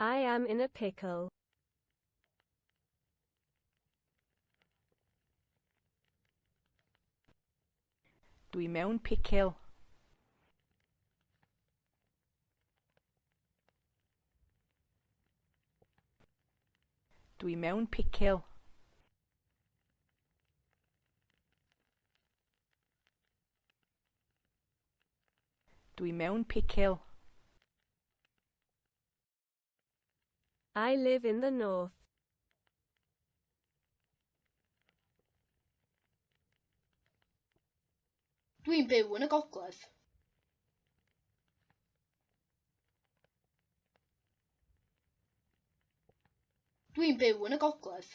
I am in a pickle. Dwi mewn picil. Dwi mewn picil. Dwi mewn picil. I live in the north. Dwi'n byw yn y gogledd. Dwi'n byw yn y gogledd.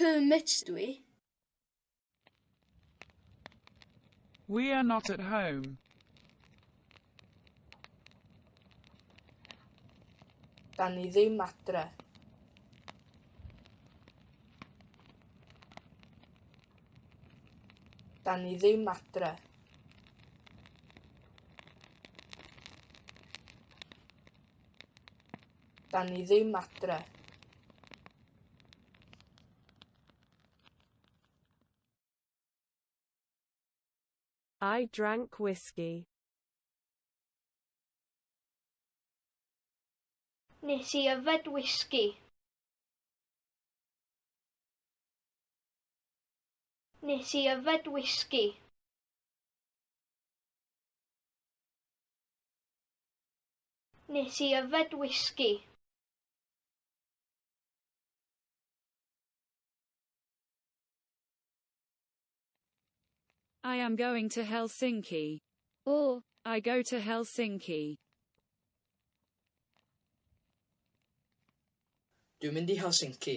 Kermit dw i. We are not at home. Da ni ddim adre. Da ni ddim adre. Dan ni ddim adre. I drank whiskey. Nes i yfed whisky. Nes i yfed whisky. Nes i yfed whisky. I am going to Helsinki. Or, I go to Helsinki. Dwi'n mynd i Helsinki.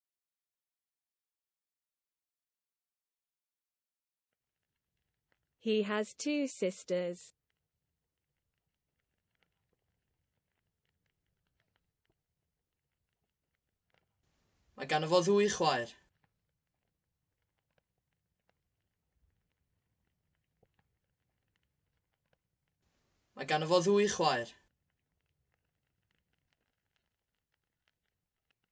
He has two sisters. Mae gan fo ddwy chwaer. Mae gan fo ddwy chwaer.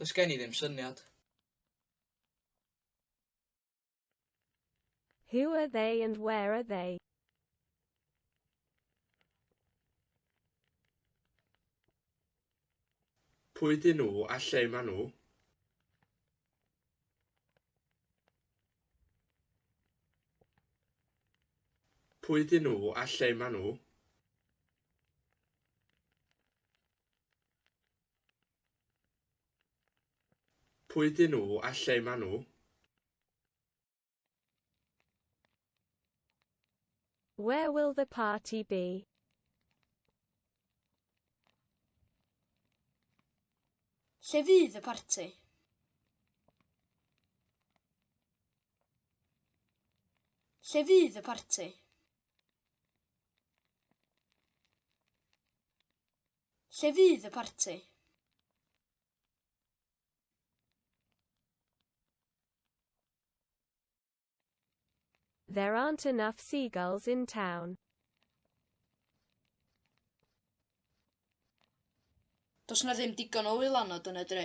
Does gen i ddim syniad. Who are they and where are they? Pwy dyn nhw a lle maen nhw? Pwy dyn nhw a lle maen nhw? Pwy ydyn nhw a lle maen nhw? Where will the party be? Lle fydd y parti? Lle fydd y parti? Lle fydd y parti? There aren't enough seagulls in town. Does na ddim digon o wylanod yn y dre.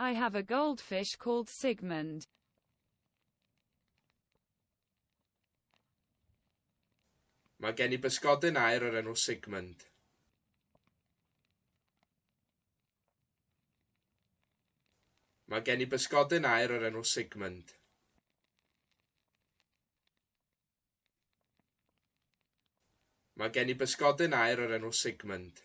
I have a goldfish called Sigmund. Mae gen i bysgodyn aer o'r enw Sigmund. Mae gen i bysgodyn aer o'r enw Sigmund. Mae gen i bysgodyn aer o'r enw Sigmund.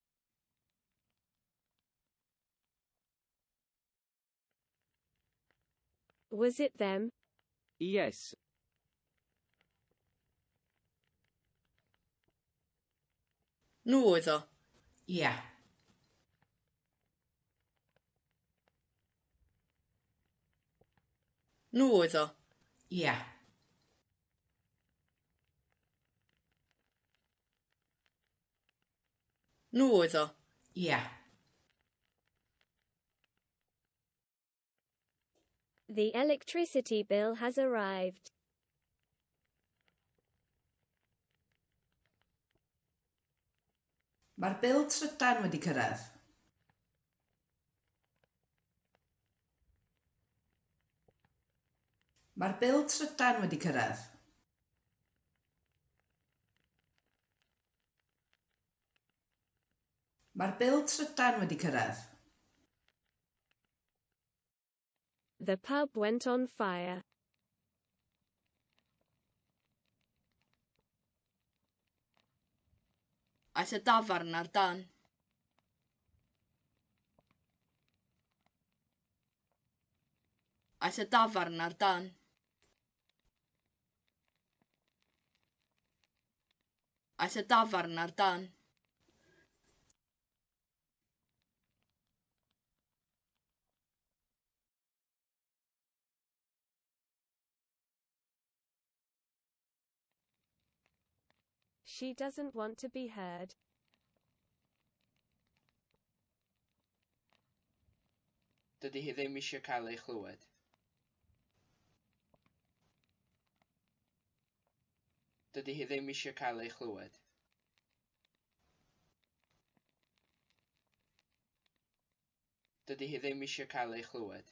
Was it them? Yes. Nhw oedd o. Ia. Nhw oedd o. Ia. Nhw oedd o? Ia. The electricity bill has arrived. Mae'r bil trydan wedi cyrraedd. Mae'r bil trydan wedi cyrraedd. Mae'r bil trydan wedi cyrraedd. The pub went on fire. Aeth y dafarn ar dân. Aeth y dafarn ar dân. Aeth y dafarn ar dân. She doesn't want to be heard. Dydy hi ddim eisiau cael ei chlywed. Dydy hi ddim eisiau cael ei chlywed. Dydy hi ddim eisiau cael ei chlywed.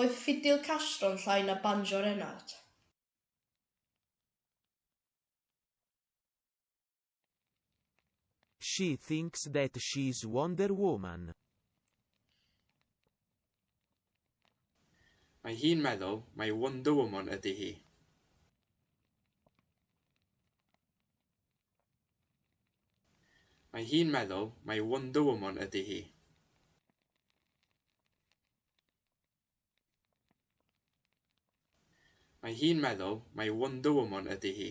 Oedd ffidil Castro'n llai na banjo Renard? She thinks that she's Wonder Woman. Mae hi'n meddwl mai Wonder Woman ydy hi. Mae hi'n meddwl mai Wonder Woman ydi hi. Mae hi'n meddwl mai Wonder Woman ydi hi.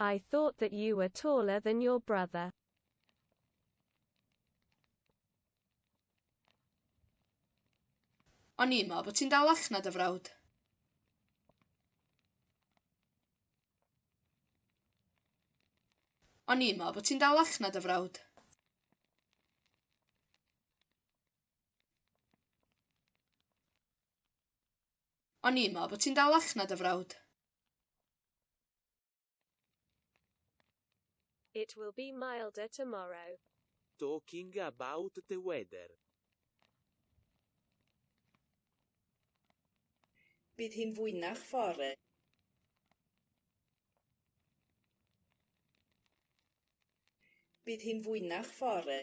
I thought that you were taller than your brother. O'n i'n meddwl bod ti'n dal ach na dy frawd. O'n i'n meddwl bod ti'n dal ach na dy frawd. O'n i'n meddwl bod ti'n dal allan na dy frawd. It will be milder tomorrow. Talking about the weather. Bydd hi'n fwynach fore. Bydd hi'n fwynach fore.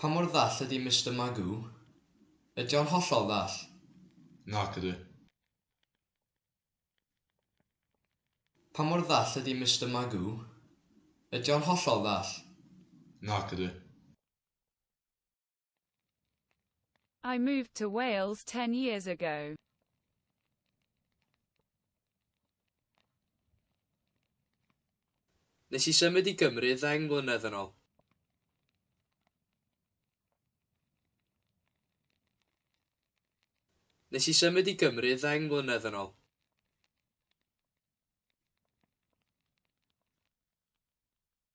Pa mor ddall ydi Mister Magoo? Ydi o'n hollol ddall? Nac ydi. Pa mor ddall ydi Mister Magoo? Ydi o'n hollol ddall? Nac ydi. I moved to Wales ten years ago. Nes i symud i Gymru ddeng mlynedd yn ôl. Nes i symud i Gymru ddeng mlynedd yn ôl.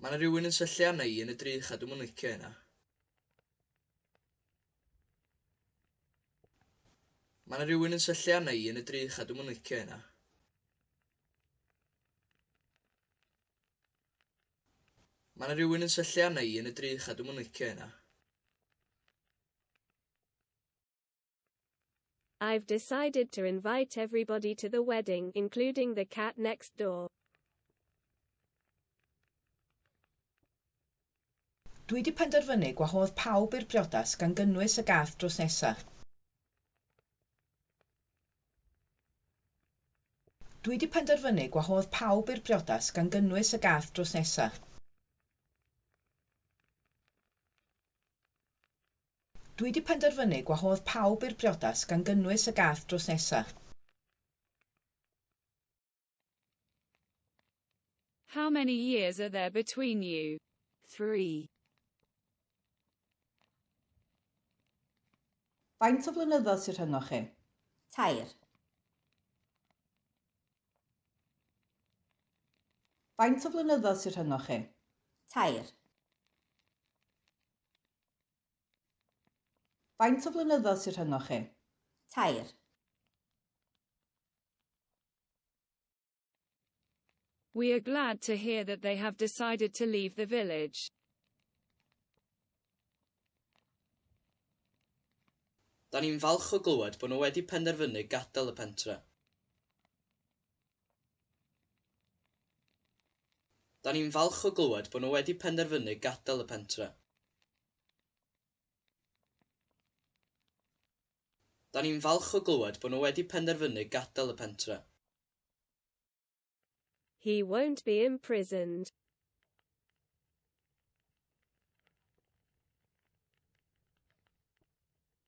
Ma' 'na rywun yn syllu arna i yn y drych a dwi'm yn licio hynna. Ma' 'na rywun yn syllu arna i yn y drych a dwi'm yn licio hynna. Ma' 'na rywun yn syllu arna i yn y drych a dwi'm yn licio hynna. I've decided to invite everybody to the wedding, including the cat next door. Dwi di penderfynu gwahodd pawb i'r briodas gan gynnwys y gath drws nesa. Dwi di penderfynu gwahodd pawb i'r briodas gan gynnwys y gath drws nesa. Dwi 'di penderfynu gwahodd pawb i'r briodas gan gynnwys y gath drws nesa. How many years are there between you? Three. Faint o flynyddoedd sy rhyngoch chi? Tair. Faint o flynyddoedd sy rhyngoch chi? Tair. Faint o flynyddoedd sy rhyngoch chi? Tair. We are glad to hear that they have decided to leave the village. Da ni'n falch o glywed bod nhw wedi penderfynu gadael y pentre. Da ni'n falch o glywed bod nhw wedi penderfynu gadael y pentre. Da ni'n falch o glywed bod nhw wedi penderfynu gadael y pentre. He won't be imprisoned.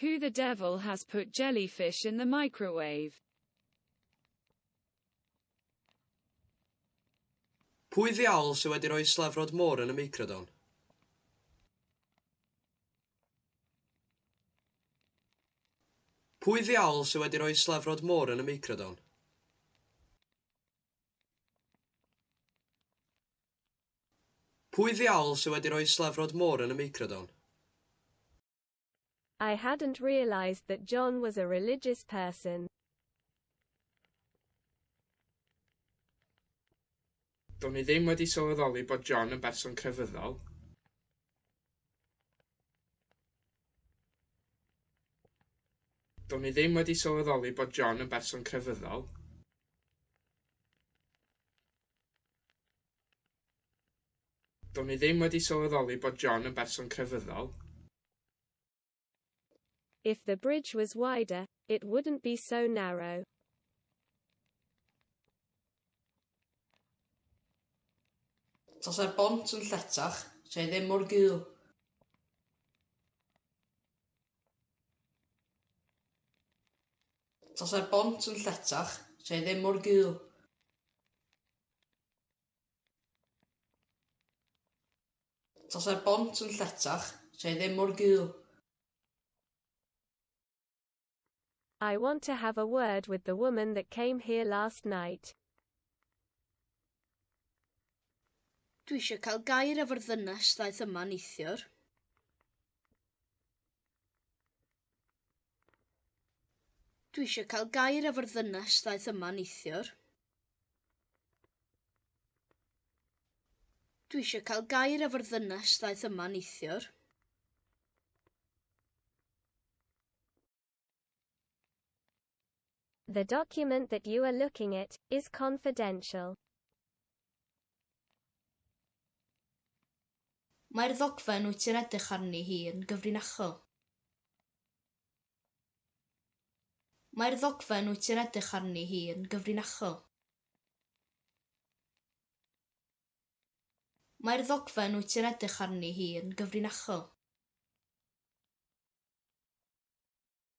Who the devil has put jellyfish in the microwave? Pwy ddiawl sydd wedi rhoi slefrod môr yn y meicrodon? Pwy ddiawl sydd wedi rhoi slefrod môr yn y meicrodon? Pwy ddiawl sy wedi rhoi slefrod môr yn y meicrodon? I hadn't realised that John was a religious person. Do'n i ddim wedi sylweddoli bod John yn berson crefyddol. Do'n i ddim wedi sylweddoli bod John yn berson crefyddol. Do'n i ddim wedi sylweddoli bod John yn berson crefyddol. If the bridge was wider, it wouldn't be so narrow. Tasai'r bont yn lletach, se ddim mor gul. Tasai'r bont yn lletach, se ddim mor gul. Tasai'r bont yn lletach, se ddim mor gul. I want to have a word with the woman that came here last night. Dwi eisiau cael gair efo'r ddynes ddaeth yma neithiwr. Dwi eisiau cael gair efo'r ddynes ddaeth yma neithiwr. Dwi eisiau cael gair efo'r ddynes ddaeth yma neithiwr. The document that you are looking at is confidential. Mae'r ddogfen wyt ti'n edrych arni hi yn gyfrinachol. Mae'r ddogfen wyt ti'n edrych arni hi yn gyfrinachol. Mae'r ddogfen wyt ti'n edrych arni hi yn gyfrinachol.